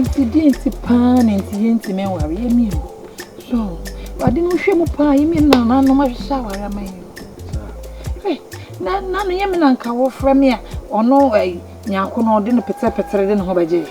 nti deɛ nti paa na nti yɛntumi nware yɛ mmienu so ade no hwɛ mu paa yɛ mmienu na nanom ahwehwɛ aware ama yɛ na na no yɛ me na nka wɔfrɛ me a ɔno ɛyi nyanko na ɔde no pɛtɛpɛtɛ de ne ho bɛgye yɛ.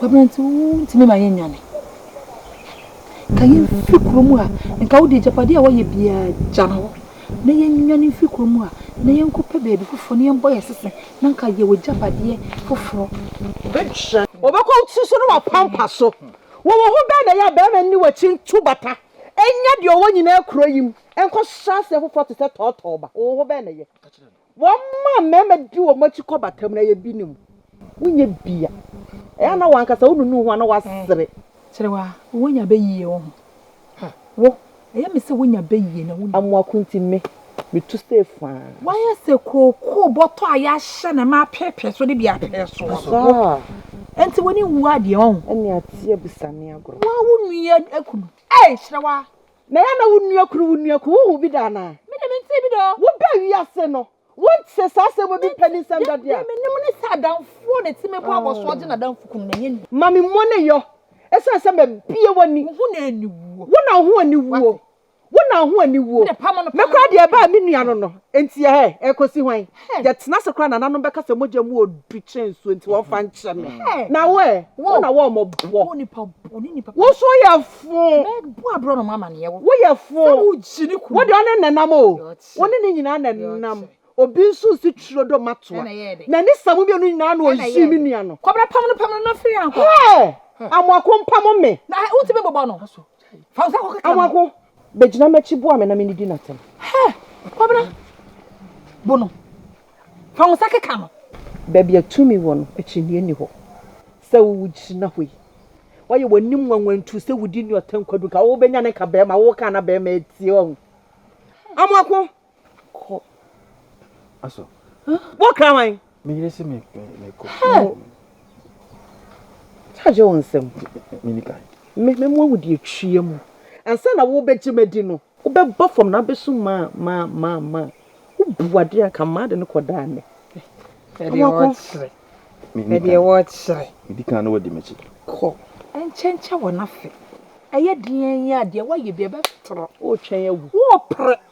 W'aberante wontumi mma yɛnnwane. Ka yɛn mfiri kuro mu a, nka wode agyapadeɛ a woayɛ biara gya no hɔ na yɛnnwane mfiri kuro mu a, na yɛnkɔpɛ baabi foforɔ na yɛmmɔ yɛn sese na nka yɛwɔ agyapadeɛ foforɔ. Wobɛkɔ nsu so na wapampa so. Wɔ wo ho bɛn na ɛyɛ a barima nni w'akyi ntu bata nnya deɛ ɔwɔ nyinaa kuro yi mu nkɔhyɛ aseɛ foforɔ te sɛ tɔɔtɔɔba? Wɔ wo ho bɛn na ɛyɛ? Wɔma mmarima di wɔn akyi kɔ batam na yɛ bi ne mu. Wonyɛ bi a, ɛyɛ a na wankasa wonunu ho a na wasere. Kyerɛ wo a, wonya bɛ yie wo ho. Wo, ɛyɛ me sɛ wonya bɛ yie na wonunu. Amoako nti me, metu sɛ faa. Wayɛ sɛ kookoo bɔtɔ a yɛahyɛ no ma apeepee so de bi apee so. Wo, ɛnti w'ani nwu adeɛ ɔn. Ɛne ateɛ bisa ne agorɔ. Wo a wonui akunu. Ei, kyerɛ wo a. Na ɛyɛ na wo nua kunu, wo nua kunu, wo hu bi da anaa? Me de me ntee bi da o. Wo ba wiase no, wo ntee saa asɛm obi panin nsɛm da deɛ a. Deɛ me nim ne sɛ adamfoɔ na ɛte me bɔ abɔsoɔ gye na damfo kunu na ɛnyɛ nua. Ma me mmɔ ne yɔ, ɛsiane sɛ ma bie w'ani. Wo ho na aniwuo. Wo na wo ho aniwuo. Wo na wo ho aniwuo. Me de pamo no pamo no. Me koraa deɛ ɛbaa me nua no no, enti ɛhɛ, ɛrekɔsi hwan? Hey, yɛtena ase koraa nananom bɛka sɛ mogya mu odu kyɛn nsuo nti wɔn fa nkyɛ me. Hey, na wo ɛ, wo na wɔn mo bɔ. Wo nipa bɔ, ne nipa. Wo so yɛ fo. Mɛbɔ abrɔ na mo amaneɛ wo. Wo yɛ fo. Sɛ wo gyi ne kunu. Wo de ɔne nenam o. Wo ne ne nyinaa na nenam. Obi nso nsi twuro do matoa. Na ni sa mo mmienu nyinaa na oyi me nua no. Kɔbra pam no pam no na firi ankɔ. Hey, amoako mpam me. Na wo ti me bobɔ no. Fa wo nsa kɔkɔ ka. Awako, bɛgyina m'akyi boa me na menidi n'atɛm. Hɛ, kwabena, bo no. Fa wo nsa keka no. Baabi a tumi wɔ no, akyinnye nni hɔ sɛ wogyina hɔ yi. Woayɛ w'anim nwanwantu sɛ wudi Newton Kwadu nka wobɛnya ne nka barima a woka na barima atie ɔho. Amoako, Kɔ. Aso. Wo kra wan? Me yere se me me kɔ. Charge wo nsɛm. Me ni kan. Me me mo awudi atwie mu. Ansa na wo bɛgye madi no. Wo bɛba fam na abɛsu ma ma ma ma. Wo bu ade anka ma de no kɔ daa me. Ɛdeɛ wɔkyerɛ. Ɛdeɛ wɔkyerɛ. Ɛdi kan na wɔdi m'akyi. Kɔ. Ɛnkyɛnkyɛ wɔ n'afe. Ɛyɛ deɛn yi a deɛ wɔayɛ bi ɛbɛtorɔ. Wotwɛn awu. Wopere.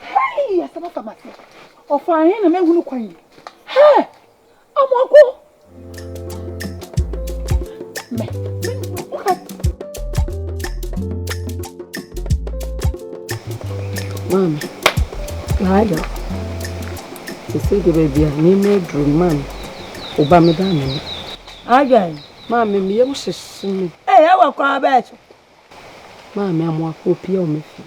Hei! Asɛm afa m'ase. Ɔfaa he na mahunu kwan yi? Hɛ! Amoako! Mɛ, mɛ, mɛ. Maame, Laila, sese de baabi a nneɛma aduru no maame, wo ba me ba me no. Adwan, maame, me yam hyehye me. Ee, ɛwɔ kɔ abɛɛkye. Maame Amoako, opue wɔ me fie.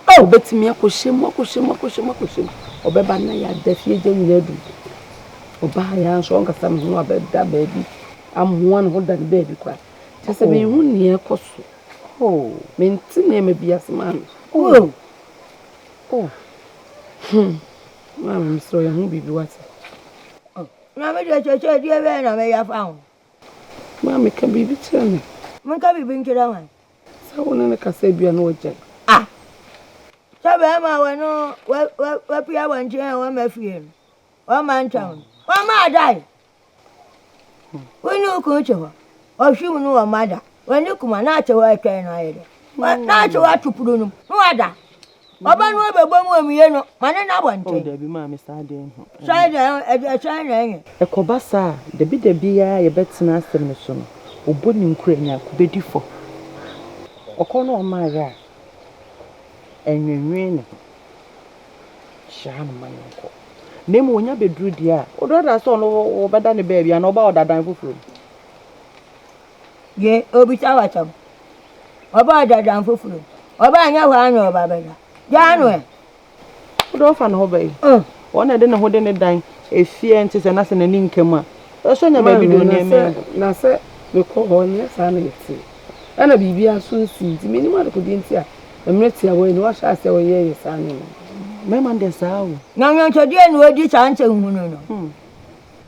Oh! Obetumi akɔhyɛ mu, akɔhyɛ mu, akɔhyɛ mu, akɔhyɛ mu. Ɔbɛba na yɛada fie gya nyinaa adu. Ɔbaa yɛ nso ɔnkasa me ho abɛda baabi, amoa ne ho da ne baabi kwa. Kyɛ sɛ menhu nea ɛkɔ so. Oh! Mente nneɛma bi ase maame. Oh! Oh! Hmm. Maame, mesrɛ yɛ ho biribi wate. Maame, kyerɛkyerɛkyerɛ, deɛ bɛyɛ na mɛyɛ afa ho? Maame, ka biribi kyerɛ me. Menka biribi nkyerɛ hwan? Sɛ wo ne no kasa a ebia na wagyae. Ah! Sɛ bɛrima a wɔne wo wafi abɔnten a wamma fie no, wamma antwɛn wo no, wamma adae. Wo ne wo kunu te hɔ, ɔhwe mu no wamma ada. W'ani kuma na ate hɔ retwɛn no ayɛ dɛ. Na ate hɔ ato pono no mu na wada. Ɔba no ɔbɛbɔ mu amuyɛ no, ma ne nna abɔnten. O dabi, maame, saa deɛ nhu. Saa deɛ, ɛsɛn na ɛnyɛ. Ɛkɔba saa a, dabidabi ara yɛbɛtena asɛm no so no, ɔbɔ ne nkura nya kubedi fɔ. Ɔkɔ na ɔma ayɛ a, ɛnwenwen ne ho. Hyira no ma no nkɔ. Na mmom ɔnya bɛduru deɛ a, ɔdɔɔdɔɔ sɛ ɔno wɔbɛda no baabi anaa ɔba ɔdadan foforɔ mu. Ye, obisa w'asɛm. Ɔbaa da dan foforo. Ɔbaa nyɛ hɔ ara na ɔba bɛda. Gyaa no ɛ. Wode ɔfa ne ho bɛyi. Mm. Wɔn na ɛde ne ho de ne dan efie nti sɛ na sɛ n'ani nka mu a. Ɛsɔ nya baabi de nneɛma yi. Na sɛ mekɔ hɔ nyɛ saa na ɛte. Ɛna biribiara nso nsii nti menim adekodeɛ nti a mmerɛ tiawa yi na wahyɛ aseɛ ɔyɛɛyɛ saa nneɛma. Mmarima no deɛ saa o. Na nnwontodeɛ na ɔdi saa nsɛnhunu no. Hmm.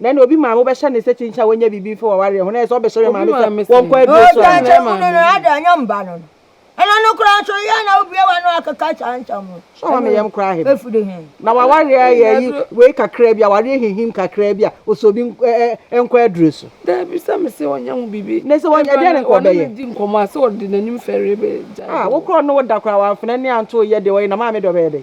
Nnɛ na obi maame wobɛhyɛ no sɛ kyinkyin a wɔnyɛ biribi mfa w'awareɛ ho na ɛyɛ sɛ ɔbɛhyɛ ne maame sɛ wɔnkɔ aduro so a. Ɔkyekyɛ mu no no ada ɛnyɛ mba no no. Ɛno no koraa nso yɛ na wobue w'ano akeka saa nsɛm no. Sɛ ɔma me yam koraa hem. Ɛfiri he? Na w'awareɛ yɛ yi wei kakraa bi a awareɛ hinhim kakraa bi a ɔsɛ obi nkɔ aduro so. Daabi sɛ me se ɔnyɛ ho biribi. Na sɛ ɔnyɛ deɛ ne nka ɔbɛyɛ. Ɔne ne di nkɔmmɔ a sɛ ɔde n'anim fɛre bɛgyae. Ah wo koraa ɔne wo da koraa wamfena ani anto wo yɛ deɛ ɔyɛ na maame deɛ ɔbɛyɛ dɛn.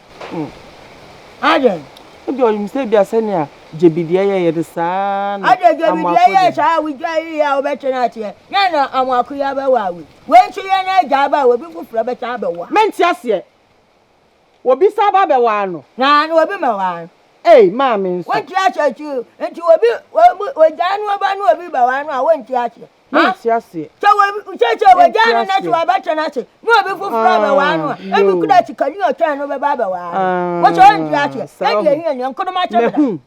Hmm. Adɛn? Ebia ɔnim sɛ ebia sɛnea Jebidiɛ yɛeɛ no saa ara na Adɛn Jebidiɛ Amoako yɛɛ de. saa a wogyae yɛ a wobɛtwe no ateɛ? Yɛn na Amoako yi abɛwaa wei. Wei nso yɛn na agya aba a obi foforɔ bɛsan abɛwaa. Mente aseɛ. Obi san aba abɛwaa no? Aane, obi mmɛwaa no. Ei, maame nso. Wonte aseɛ, nti, nti obi, obi, ogyaa no aba na obi bɛwaa no a, wonte aseɛ. Mente ase. Sɛ wɔsɛ sɛ wɔgyaa no na sɛ wɔabɛtɔ no ase na obi foforɔ ah, abɛwaa no a, ebi kura sikani ɔtwɛn no bɛba abɛwaa no. Wɔsɛ ɔnte aseɛ. Ɛdi ɛhi ɛni nkonoma kyɛ mena. Mm.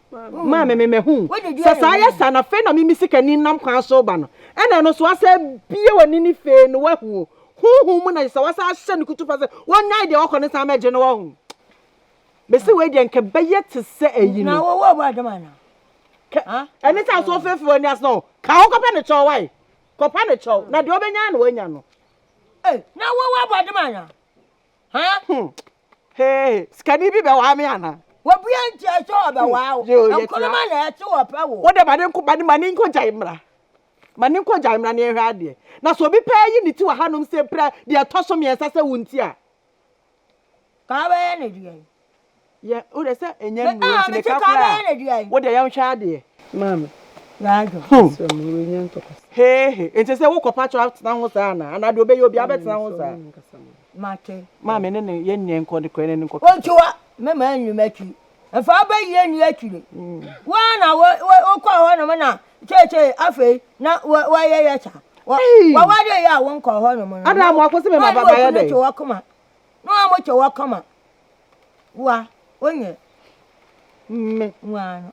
Maa me mɛhu. Sɛ saa yɛ sa na fei na mimi sikani nam kwan so ba no. Ɛna ɛno so asɛ bie w'ani ne fei no wahu. Honhom mu na sɛ wasa ahyɛ no kutupa sɛ wɔnyae deɛ wɔkɔ ne san mɛgye no wɔ ho. Mese wei deɛ nka bɛyɛ te sɛ ayi no. Na wɔwɔ ɔbɔ adam ana? Ɛne sɛ asɔ fefe wɔ anias no ka ho kɔpɛ ne kyɛw wae kɔpɛ ne kyɛw na deɛ ɔbɛnya na wanya no. Na wɔwɔ ɔbɔ adam ana? Hmm. Hey, sikani bi bɛwaa me ana? Wɔbia nkyɛ sɛ ɔbɛwaa wo. Hmm. Nkonoma na ɛte wɔpɛ wo. Wode ma ne nko ma ne ma ne nkɔ gyae mmra. Ma ne nkɔ gyae mmra ne ɛhwɛ adeɛ. Na sɛ obi pɛɛ yi ne ti wɔ hanom sɛ pira deɛ ɛtɔ so mmiɛnsa sɛ wo nti a. Kaa bɛyɛ no dua yi. Yɛ wo de sɛ ɛnyɛ nnuro nti ne ka koraa a wo deɛ yɛn hwɛ adeɛ. Maame. Yadwo. Hum. Sɛ mo wɔ nya ntɔkwa. Hee he nti sɛ wo kɔ patro atena ho saa anaa anaa deɛ ɔbɛyɛ obi abɛtena ho saa. Mate. Maame ne ne yɛ nyɛ nkɔ de kɔ ne ne nkɔ. Ontua mɛma anwuma akyi Mfa wo bayie nni akyire. Wo ara na wokɔɔ hɔnom na seesei afei na wɔyɛyɛ saa. Wɔware yɛ a wonkɔɔ hɔnom no. Ada mo akɔsi me maba bayɛ dɛ. Wɔn wɔ koma. Na wɔn mo kyɛ wɔ koma. Wa wonyɛ. Mme. Wa no.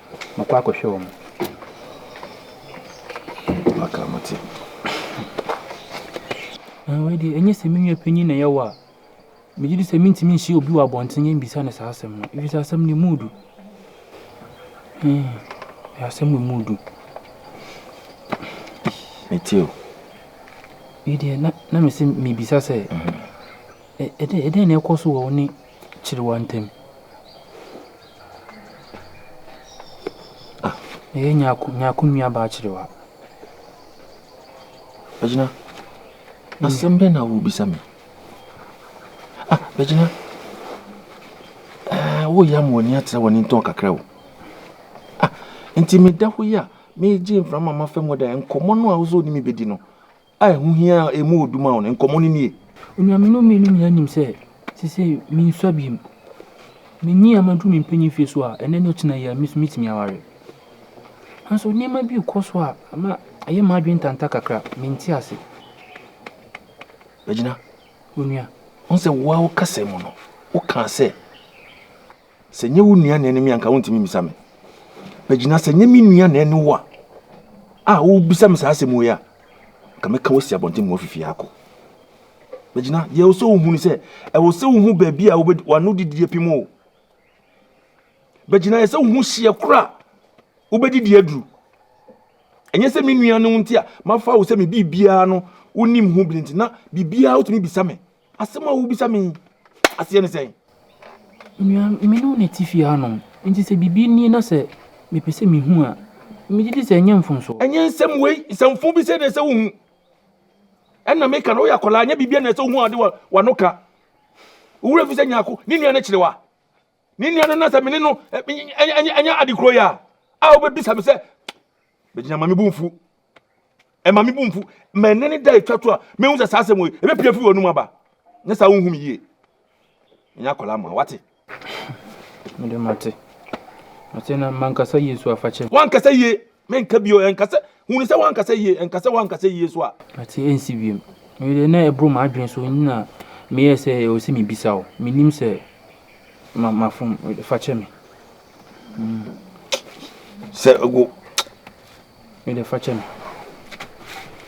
Mokɔ akɔhwɛ wɔn. Maka mo te. Na wei deɛ ɛnyɛ sɛ me nua panyin na ɛyɛ wo a megye di sɛ mentumi nhyia obi wɔ abɔnten yɛ mbisa no saa asɛm no ɛfiri sɛ asɛm no ɛmu du hmm, asɛm wɔ mu du mete o wei deɛ na na mese mebisa sɛ ɛdɛn na ɛkɔ so wɔ wo ne kyere wɔn ntɛm. Ah, ɛyɛ nyako, nyako nua baa kyerewa. Bɛgyina, asɛm bɛn na wobisa me? Ah, bɛgyina, ɛɛ, woyɛ ama w'ani atrɛ w'ani ntɔn kakra o. Ah, nti meda hɔ yi a, megye mframa ma fam hɔ dɛ, nkɔmmɔ no a wosɛ wode me bɛdi no, a ɛho hia a emu wɔ du ma wo no, nkɔmmɔ no nie. Anuanom mmienu nyinaa nim sɛ seesei minsua bio. Minyin a maduru me mpanyin mfe so a, ɛnnɛ ne ɔkyena yi a, me nso metumi aware. Nanso nneɛma bi rekɔ so a ama ɛyɛ m'adwene ntanta kakra, mente ase. Bɛgyina. Onua. Ɔn sɛ wo ara wo kasa mu no, wokaa sɛ. Sɛ nyɛ wo nua na ɛne me anka wontumi mmisa me. Bagyina sɛ nyɛ me nua na ɛne wo a a wobisa me saa asɛm wei a, nka mɛka wasi abɔnten ma wafifi akɔ. Bagyina, deɛ ɛwɔ sɛ wohu ne sɛ, ɛwɔ sɛ wohu baabi a wano didie pem o. Bagyina, ɛsɛ wohu hyeɛ koro a wobɛdidi aduru. Ɛnyɛ sɛ me nua no nti a mafa wo sɛ me biribiara no wonim ho biri nti na biribiara wotumi bisa me. Asɛm a wobisa me yi aseɛ ne sɛn? Onua, me ne wo na ɛte fie hanom, enti sɛ biribi nie na sɛ mepɛ sɛ mehu a, megye di sɛ ɛnyɛ mfomso. Ɛnyɛ nsɛm wei, nsɛmfoo bi sei na ɛsɛ wohu. Ɛnna meka no, woyɛ akwadaa, ɛnyɛ biribiara na ɛsɛ wohu a wode w'ano ka. Wo werɛ fi sɛ Nyarko ne nua no kyere wo a, Ne nua no na sɛ me ne no anya ade koro yi a a wobɛbisa me sɛ bɛgyina ma me bo mfu ɛma me bo mfu ma ɛne ne da ɛtwa to a mehu sɛ saa asɛm wei ɛbɛpia firi w'anom aba nyɛ saa wonhu me yie ɛnyɛ akwadaa ma wate mede mate mate na mankasa yie so afakyɛ wankasa yie Menka bio, ɛnka sɛ, hunu sɛ woanka sɛ yie, ɛnka sɛ woanka sɛ yie so a. Ate ɛnsi wiem. Me deɛ na ɛboro m'adwene so nti na meyɛɛ sɛ ɛwɔ sɛ mebisa wo. Menim sɛ mafom, fa kyɛ me. Sɛ wo. Me deɛ fa kyɛ me.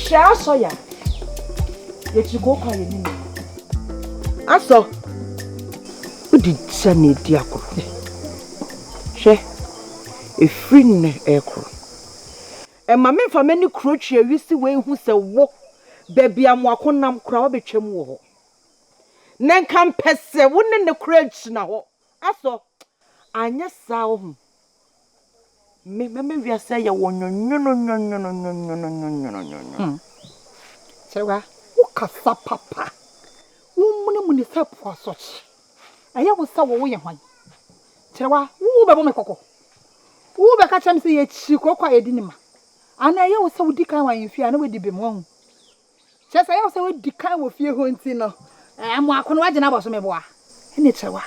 Hwɛ asɔ ya yɛkyiri kɔ kɔ yɛ ne mu asɔ wode gya na ɛdi akoro hwɛ ɛfiri nnɛ ɛkoro ɛma memfa m'ani kuro twe awisi wei hu sɛ wo baabi a moako nam koraa wabɛtwam wɔ hɔ na nka mpɛ sɛ wo ne ne koraa gyina hɔ Asɔ, anyɛ saa ohu Me ma me wiase ayɛ wo nwonwono nwonwono nwonwono nwonwono nwonwono. Kyerɛ wa, wo kasa papa, wo muni muni sɛ po asɔkye. Ɛyɛ wo sɛ wo wo yɛ hwan? Kyerɛ wa, wo wo bɛ bɔ me kɔkɔ? Wo wo bɛ ka kyerɛ me sɛ yɛ kyiri korɔkɔ a yɛ di ne ma? Anaa ɛyɛ wo sɛ wo di kan wɔ ahemfie a na w'adi bem, wahu? Kyerɛ sɛ, ɛyɛ wo sɛ woadi kan wɔ fie hɔ nti no, mmoa ko no woagye no abɔ so, meboa. Ɛnneɛ kyerɛ wo a,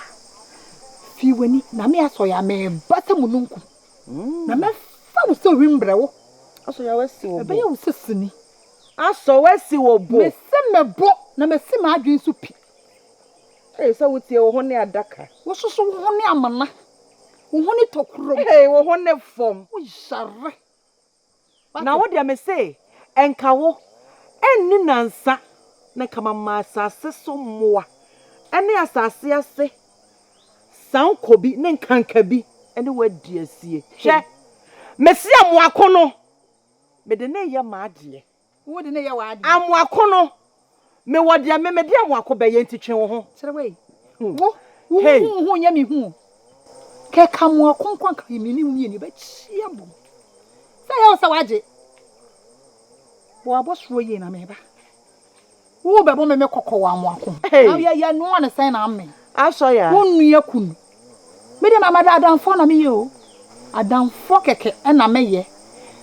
fi w'ani, na me Asɔre a mereba sɛ mununkum, na mɛfa wo sɛ owim mbrɛ wo. Asɔ Yahweh asi wo bo. Ɛbɛyɛ wo sɛ sini. Asɔ wo asi wo bo. Mese me bo, na masi m'adwene so pi. Ei, sɛ wotie wo hone adaka. Wososo wo hone amena. Wo hone tɔ kurom. Ei, wo hone fam. Woyare. Na wo deɛ mese, nka wo, anni nnansa, na nka mama asase so mmoa ne asase ase sankɔbi ne nkankabi ne wo adi asie. Hwɛ, mese amoako no, mede no reyɛ m'adeɛ. Wo de no yɛ w'ade. Amoako no, me wɔ deɛ me mede amoako bɛyɛ nti twe wo ho. Kyerɛ wei, wo, wo ho wo ho nyɛ me hu o. Kɛ ka amoako nko a nka me ne wo mmienu yɛbɛkyia bom. Sɛ ɛyɛ wo sɛ wagye, bɔ w'abɔsoɔ yie na meba. Wo bɛbɔ me me kɔkɔ wɔ amoako. Na yɛ yɛ noa ne sɛn na amen. Asɔ ya. Wo nua kunu. Me deɛ mama adamfoɔ na me yɛ o. Adamfoɔ kɛkɛ ɛna me yɛ.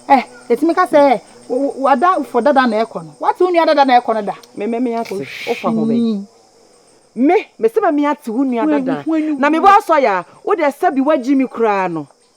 Eh eti me ka sɛ eh wo ada fo dada na ɛkɔ no. Wate wo nua dada na ɛkɔ no da. Me me me ate wo fa ho bɛ. Me me se me me ate wo nua dada na me bɔ asɔ ya. Wo deɛ sɛbi wagyi me koraa no.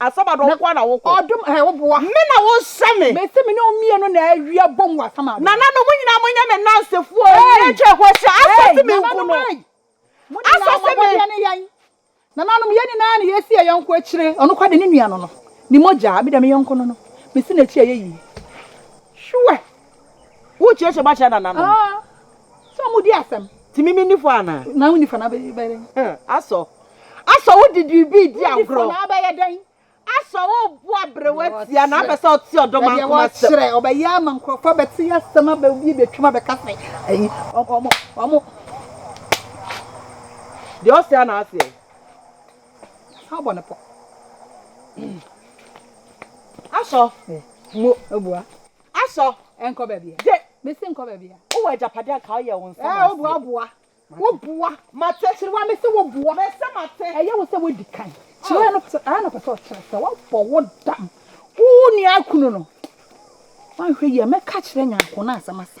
Asamado nko ara na wokɔ. Ɔdom ɛɛ wo boa. Me na wo nsɛ me. Me se me ne wo mmienu na awie abom wɔ Asamado. Nananom mo nyinaa mo nyɛ me nansefoɔ o, nyɛ kyɛ ho ahyia, Asa se me nku no. Asa se me. Nananom yɛn nyinaa na yɛsi yɛn yɔnko akyire, ɔno koraa deɛ ne nua no no, ne mogyaa, me deɛ me yɔnko no no, mesi n'akyi a ɛyɛ yie. Sure. Wo kyeakyɛ mu akyerɛ nananom. Sɛ ɔmo di asɛm. Nti me menni fɔ anaa? Na wonni fɔ na abɛyɛ dɛn? Huh, asɔ. Asɔ wo de biribi redi agorɔ. Wonni fɔ na abɛyɛ dɛn? Asɔ wo bo abrew atia na apɛ sɛ ɔte ɔdɔ man koma asɛm. Sɛdeɛ wɔkyerɛ, ɔbɛyɛ ama nkurɔfoɔ abɛte asɛm aba obi ebi atwam abɛka sɛ ɛyi ɔmo ɔmo. Deɛ ɔsɛ ara na aseɛ. Asan abɔ ne pɔ. Asɔ, mo abua. Asɔ! Nkɔ baabiaa. Gye! Mese nkɔ baabiaa. Wowɔ agyapade a nka woyɛ wo nsa ma aseɛ. Woboa boa. Woboa. Mate. Kyerewa mese woboa. Mese mate. Ɛyɛ wo sɛ wodi kan. Kyerewa no pɛsɛ ɛyɛ na ɔpɛsɛ ɔkyerɛ sɛ wabɔ wo dam. Wo nua kunu no. Wanhwɛ yie a mɛka akyerɛ Nyarko na asɛm asa.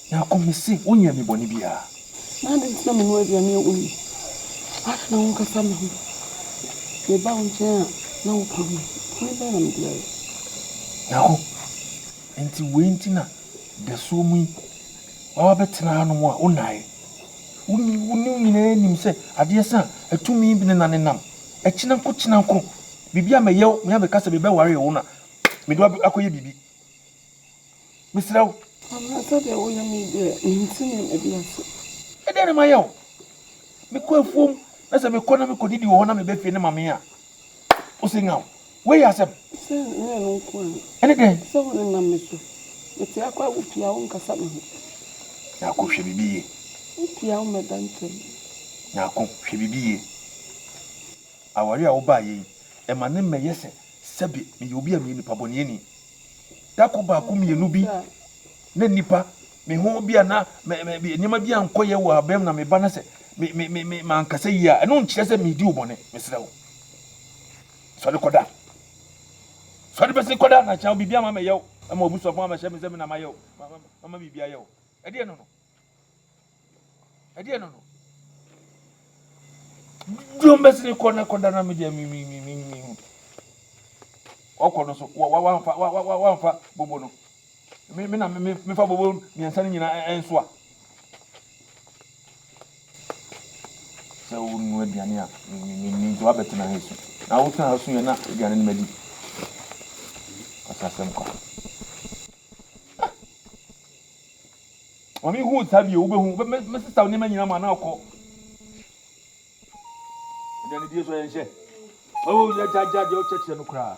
Na ɔka me se, Wonyɛɛ me bɔne biara. Na adɛn nti na menoa aduane a woyi? Adɛn na wonkasa me ho? Mebaa wo nkyɛn a, na wopɛ me. Bɔne bɛn na mede ayɛ? Yakob, enti wei nti na dasuo mu yi woaba bɛtena hanom a wonnaeɛ? Wo ne wo nyinaa nim sɛ adeɛ sa a, atumi bene na ne nam kyena nko kyena nko. Biribi a mɛyɛ wo, me ara mɛka sɛ mebɛwaree wo na mede wo akɔyɛ biribi. Mesrɛ wo. Anaasɛ deɛ woyɛ me deɛ, nte nneɛma bi ase. Ɛdeɛn na mayɛ wo? Mekɔ afuom, na sɛ mekɔ na mekɔdidi wɔ hɔ na meba fie na mamee a, wose nyaw. Wei yɛ asɛm? Sɛ ɛnyɛ ɛno nko a. Ɛne dɛn? Sɛ wonenam me so. Mete akɔ a, wopia wo nkasa me ho. Nyarko, hwɛ biribi yie. Wopia wo mmɛda ntam. Nyarko, hwɛ biribi yie. Aware a wobaeɛ yi, ɛma ne mmɛ yɛ sɛ sɛbe meyɛ obi a meyɛ nipabɔneɛni. Da koro baako mmienu bi na nnipa me ho bi a na nneɛma bi ankɔ yɛ wɔ abam na meba na sɛ me me me me mankasa yie a ɛno nkyerɛ sɛ medi wo bɔne mesrɛ wo sɔre kɔda sɔre bɛsi kɔda na kyɛn biribi ama mɛyɛ wo ama obusuafo ama hyɛ me sɛ me na mayɛ wo mama biribi ayɛ wo ɛdeɛ no no ɛdeɛ no no dwom bɛsi ne kɔ na kɔda na medeɛ mehu ɔkɔ no so wamfa bobo no mena mefa bobo mmiɛnsa no nyinaa nso a sɛ wonu aduane a nti wabɛtena ha su na wotena ha su yɛ na aduane no madi asasɛm kwa Maame hu sa bio wobɛhu me sista nneɛma nyina ma na ɔkɔ aduane die so yɛnhyɛ oh yɛgyagya deɛ ɔkyɛkyerɛ no koraa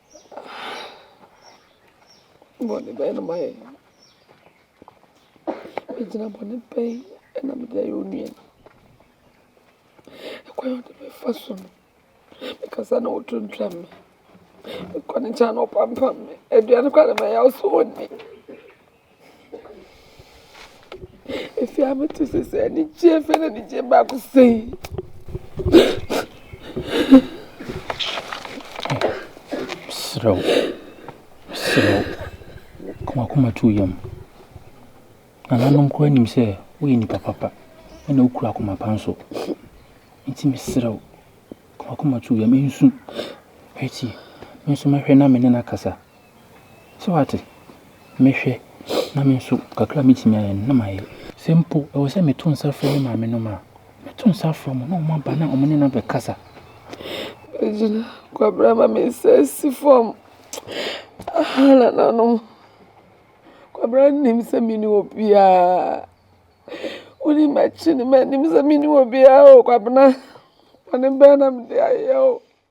Bɔne bɛn na mayɛ? Egyina bɔne bɛn na mede ayɛ onua no? Ɛkwan a ɔde me fa so no, me kasa na ɔtwentwa me, mekɔ ne nkyɛn a na ɔpampam me, aduane koraa na mɛyɛ a ɔsɛ ɔnni. Efi a mete sesɛ anigyeɛ afei na anigyeɛ baako sei. Mesrɛ wo, mesrɛ wo, ka w'akoma to wo yam. Nananom koraa nim sɛ woyɛ nipa papa na wokura akoma pa nso. Nti mesrɛ wo, ka w'akoma to wo yam, nsu. Hwɛ tie, me nso mɛhwɛ na me ne no akasa. So wate? Mehwɛ, na me nso kakra a mɛtumi ayɛ no, na mayɛ. Sɛ mpo ɛwɔ sɛ meto nsa frɛ me maame nom a, mɛto nsa afrɛ wɔn na wɔaba na me ne no abɛkasa. Regina, Kwabena ama me nsa asi fam. Aha, nananom, Kwabena nnim sɛ me ne obiara. Wonim akyi no, mannim sɛ me ne obiara o, Kwabena. Bɔne bɛn na mede ayɛ wo?